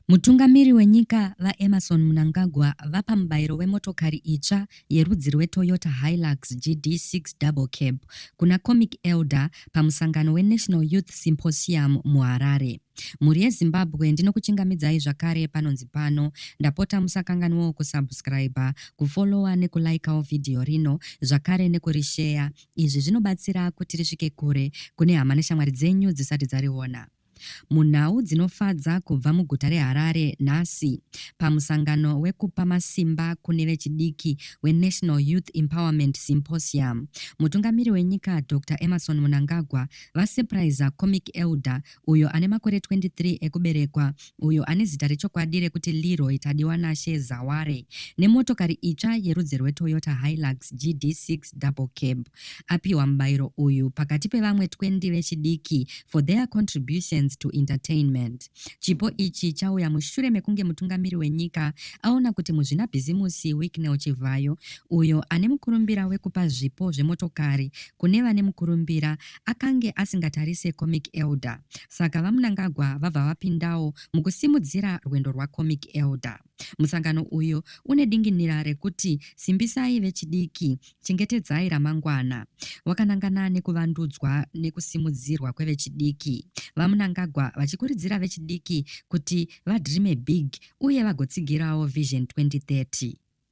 Mutungamiri wenyika, VaEmmerson Mnangagwa, vapa mubayiro wemotokari itsva yerudzi rweToyota Hilux GD6 Double Cab kuna Comic Elder pamusangano weNational Youth Symposium muHarare. Mhuri yeZimbabwe ndinokuchingamidzai zvakare panonzi pano. Ndapota musakanganwewo kusubscriber, kufollower nekulikawo vhidhiyo rino zvakare nekurisheya. Izvi zvinobatsira kuti risvike kure kune hama neshamwari dzenyu dzisati dzariona. Munhau dzinofadza kubva muguta reHarare nhasi pamusangano wekupa masimba kune vechidiki weNational Youth Empowerment Symposium, mutungamiri wenyika Dr Emmerson Mnangagwa vasurpriser Comic Elder uyo ane makore 23 ekuberekwa uyo ane zita rechokwadi rekuti Leroy Tadiwanashe Zaware nemotokari itsva yerudzi rweToyota Hilux GD6 double cab. apiwa mubairo uyu pakati pevamwe 20 vechidiki for their contributions to entertainment. Chipo ichi chauya mushure mekunge mutungamiri wenyika aona kuti muzvinabhizimusi Wicknell Chivhayo, uyo ane mukurumbira wekupa zvipo zvemotokari kune vane mukurumbira, akange asingatarise Comic Elder. Saka VaMnangagwa vabva vapindawo mukusimudzira rwendo rwaComic Elder. Musangano uyu une dinginira rekuti simbisai vechidiki, chengetedzai ramangwana, wakanangana nekuvandudzwa nekusimudzirwa kwevechidiki. VaMnangagwa vachikuridzira vechidiki kuti vadreame big uye vagotsigirawo Vision 2030.